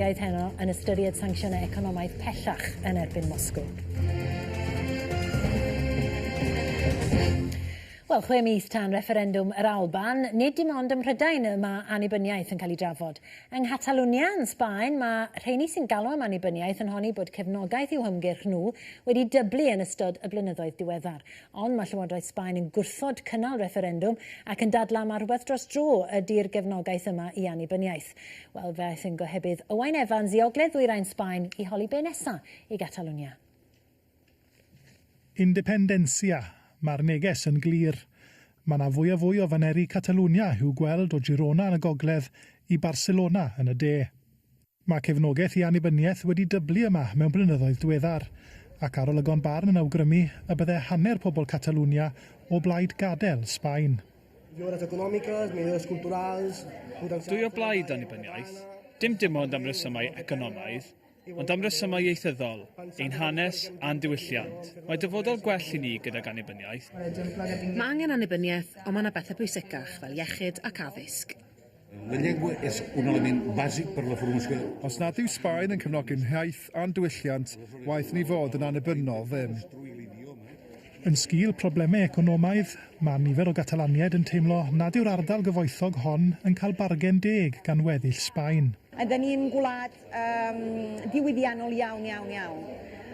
Bydd heno yn ystyried sancsiynau economaidd pellach yn erbyn Moscw. Wel, chwe mis tan refferendwm yr Alban, nid dim ond ym Mhrydain y mae annibyniaeth yn cael ei drafod. Yng Nghatalwnia, yn Sbaen, mae rheini sy'n galw am annibyniaeth yn honni bod cefnogaeth i'w hymgyrch nhw wedi dyblu yn ystod y blynyddoedd diweddar. Ond mae Llywodraeth Sbaen yn gwrthod cynnal refferendwm ac yn dadlau mai rhywbeth dros dro ydy'r gefnogaeth yma i annibyniaeth. Wel, fe aeth yn gohebydd Owain Evans i ogledd ddwyrain Sbaen i holi be nesa i Gatalwnia. Independencia, Mae'r neges yn glir. Mae 'na fwy a fwy o faneri Catalwnia i'w gweld o Girona yn y gogledd i Barcelona yn y de. Mae cefnogaeth i annibyniaeth wedi dyblu yma mewn blynyddoedd diweddar, ac arolygon barn yn awgrymu y bydde hanner pobl Catalwnia o blaid gadael Sbaen. Millores económicas, millores culturals... Dwy o blaid annibyniaeth, dim dim ond am resymau economaidd, ond am resymau ieithyddol, ein hanes a'n diwylliant. Mae dyfodol gwell i ni gydag annibyniaeth. Mae angen annibyniaeth, ond mae yna bethau pwysicach, fel iechyd ac addysg. La llengua es un element bàsic per a la formació. Os nad yw Sbaen yn cefnogi'n hiaith a'n diwylliant, waeth ni fod yn annibynnol ddim. Yn sgil problemau economaidd, mae nifer o Gatalaniaid yn teimlo nad yw'r ardal gyfoethog hon yn cael bargen deg gan weddill Sbaen. Ydan ni'n gwlad um, diwydiannol iawn, iawn, iawn.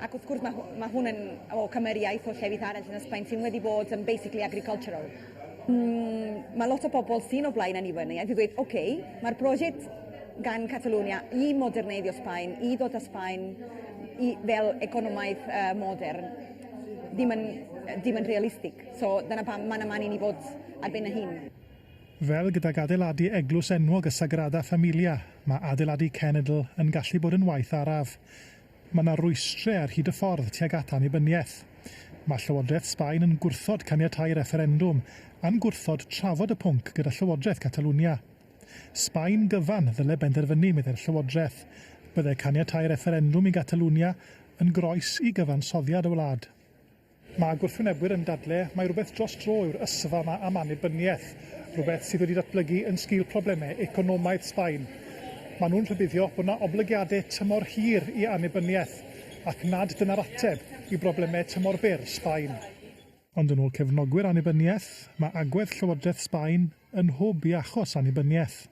Ac wrth gwrs mae, mae hwn yn o cymeriaeth o llefydd arall yn Ysbaen sy'n wedi bod yn basically agricultural. Mm, mae lot o bobl sy'n o blaen annibyniaeth i ddweud, oce, okay, mae'r prosiect gan Catalonia i moderneiddio Sbaen, i ddod â Sbaen i, fel economaeth uh, modern, ddim yn, ddim yn realistig. So dyna pam mae'n yma ni fod ar ben y hun. Fel gydag adeiladu eglws enwog y Sagrada Familia, mae adeiladu cenedl yn gallu bod yn waith araf. Mae yna rwystrau ar hyd y ffordd tuag at annibyniaeth. Mae Llywodraeth Sbaen yn gwrthod caniatáu refferendwm, a'n gwrthod trafod y pwnc gyda Llywodraeth Catalwnia. Sbaen gyfan ddyle benderfynu, meddai'r Llywodraeth. Byddai caniatáu refferendwm i Gatalwnia yn groes i gyfansoddiad y wlad. Mae gwrthwynebwyr yn dadle mai rhywbeth dros dro yw'r ysfa ma am annibyniaeth, rhywbeth sydd wedi datblygu yn sgil problemau economaidd Sbaen. Mae nhw'n rhybuddio bod na oblygiade tymor hir i annibyniaeth ac nad dyna'r ateb i broblemau tymor byr Sbaen. Ond yn ôl cefnogwyr annibyniaeth, mae agwedd Llywodraeth Sbaen yn nhwb i achos annibyniaeth.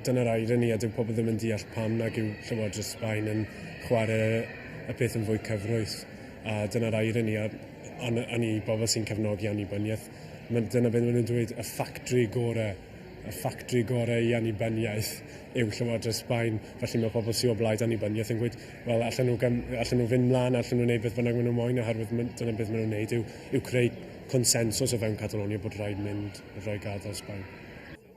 Dyna'r irony, a dyw pobl ddim yn deall pam nag yw Llywodraeth Sbaen yn chwarae y peth yn fwy cyfrwys. A dyna'r irony, a yn, yn i bobl sy'n cefnogi annibyniaeth, ma, dyna beth maen nhw'n dweud, y ffactri gorau, y ffactri gorau i annibyniaeth yw Llywodraeth Sbaen. Felly mae pobl sy'n o blaid annibyniaeth yn gweud, wel, allan nhw, gam, allan nhw fynd mlaen, allan nhw wneud beth bynnag maen nhw'n moyn, oherwydd dyna beth maen nhw'n wneud yw, yw creu consensws o fewn Catalonia bod rhaid mynd roi gadael Sbaen.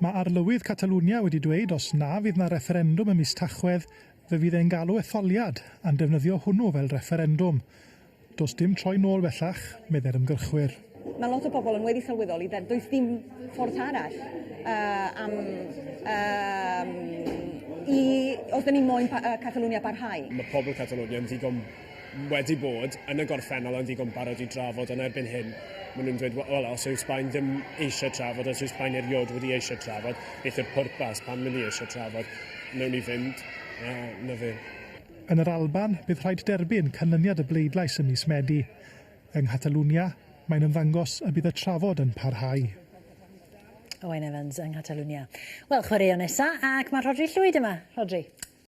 Mae Arlywydd Catalwnia wedi dweud os na fydd 'na refferendwm ym mis Tachwedd, fe fydd e'n galw etholiad, a'n defnyddio hwnnw fel refferendwm. Does dim troi nôl bellach, meddai'r ymgyrchwyr. Mae lot o bobl yn weddi sylweddoli that does dim ffordd arall yy am yym i os 'da ni moyn pa- yy Catalwnia barhau. Mae pobl Catalwnia yn ddigon wedi bod yn y gorffennol yn ddigon barod i drafod, ond erbyn hyn maen nhw'n dweud, wel, os yw Sbaen ddim eisiau trafod, os yw Sbaen erioed wedi eisiau trafod, beth yw'r pwrpas, pan mynd i eisiau trafod, wnawn ni fynd, a na fe. Yn yr Alban, bydd rhaid derbyn canlyniad y bleidlais ym mis Medi. Yng Nghatalwnia, mae'n ymddangos y bydd y trafod yn parhau. Owain Evans yng Nghatalwnia. Wel, chwaraeon nesa, ac mae Rhodri Llwyd yma. Rhodri.